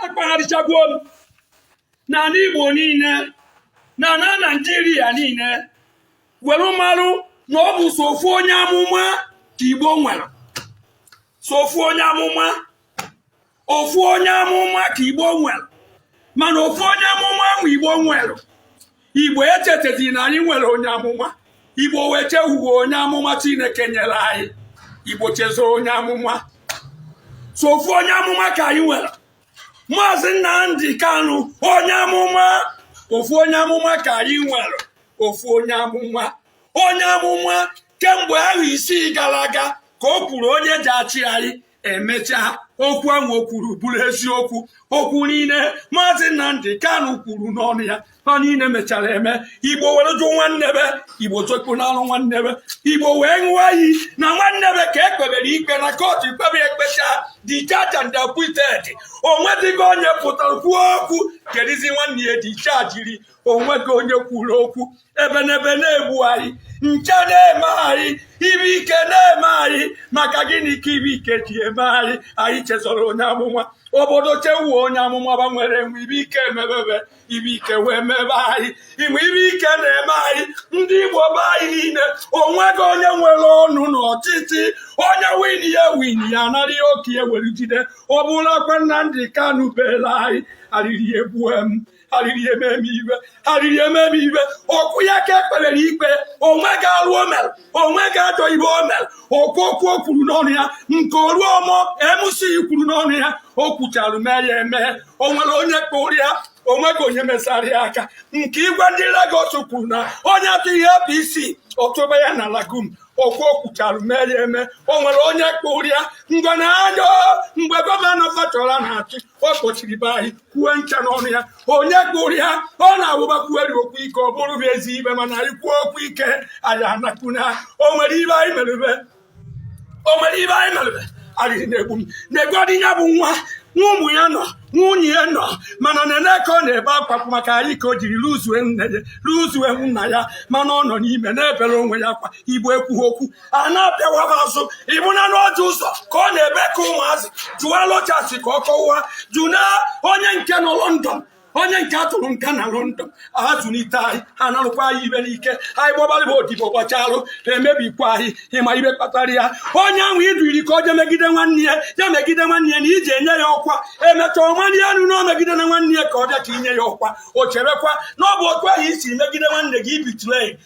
akpagharịchagwo m n'anị Igbo niile na na Naịjirịa niile were marụ na ọ bụ sọ ofu onye amụma ka Igbo nwere sọ ofu onye amụma ofu onye amụma ka Igbo nwere mana ofu onye amụma ahụ Igbo nwere igbo echetezi na anyị nwere onye amụma igbo wee chewuwe onye amụma chineke nyere anyị igbo chezọ onye amụma sọ ofu onye amụma ka anyị nwere maazị nnamdị kanụ onye amụma ofu onye amụma ka anyị nwere ofu onye amụma onye amụma kemgbe ahọ isii gara aga ka o kwuru onye ji achị anyị emechaa okwu ahụ o kwuru bụrụ eziokwu okwu niile maazị Nnamdi Kanu kwuru n'ọnụ ya ha niile mechara eme igbo were jụ nwanne be igbo zokpunalụ nwanne be igbo wee ṅụọ iyi na nwanne be ka e kpebere ikpe na kọtụ ekpebe ekpecha discharge and acquitted onwedịghị onye pụtara kwuo okwu kedizi nwanne ya dischargiri onweghị onye kwuru okwu ebenebe na-egbu anyị nche na-eme anyị ibe ike na-eme anyị maka gịnị ka ibe ike ji eme anyị anyị chezọrọ onye amụma obodo chewuo onye amụma ba nwere enwe ibe ike emebe be ibe ike wee mebe anyị ịma ibe ike na-eme anyị ndị igbo be anyị niile onweghị onye nwere ọnụ na ọchịchị onye win ya win ya anara ihe oke ya were jide ọ bụrụ akwa nnamdị kanu bere anyị arịrị egbue m arịrị emee m iwe arịrị emee m iwe okwu ya ka e kpebere ikpe onweghị alụ o mere onweghị ajọ ibe o mere okwu okwu o kwuru n'ọnụ ya nke Oluomo MC kwuru n'ọnụ ya o kwuchara mee ya eme o nwere onye kpụrụ ya onweghị onye mesara ya aka nke igwe ndị Lagos kwuru na onye atụghị APC ọ tụba ya na lagoon okwu o kwuchara mee ya eme o nwere onye kpụrụ ya ngwa na ajọ mgbe gọvanọ Fashola na-achị ọ kpọchiri be anyị kwue ncha n'ọnụ ya onye kpụrụ ya ọ na-awụ ba kwuerị okwu ike ọ bụrụ bụ ezi ibe mana anyị kwuo okwu ike anyị anakpuna o nwere ibe anyị merebe o nwere ibe anyị merebe arịrị na-egbu m negodi ya bụ nwa nwa ụmụ ya nọ nwunye ya nọ mana nene ka ọ na-ebe akwa maka anyị ka o jiri luzue nne ya luzue nna ya mana ọ nọ n'ime na-ebere onwe ya akwa igbo ekwughị okwu a na-apịawa ba azụ ị bụna nụ Orji Uzor ka ọ na-ebe ka ụmụazị jụwa Rochas ka ọ kọwa jụna onye nke nọ London onye nke a tụrụ nga na London azụlite anyị ha narụkwa anyị ibe n'ike anyị gbabalị ba odibo gbachalụ emebikwa anyị ịma ibe kpatara ya onye ahụ i duriri ka o je megide nwanne ya ya megide nwanne ya na iji enye ya ọkwa emecha ọmanye elu na o megidena nwanne ya ka ọ bịa ka i nye ya ọkwa o cherekwa na ọ bụ otu ahụ i si megide nwanne gị ibitule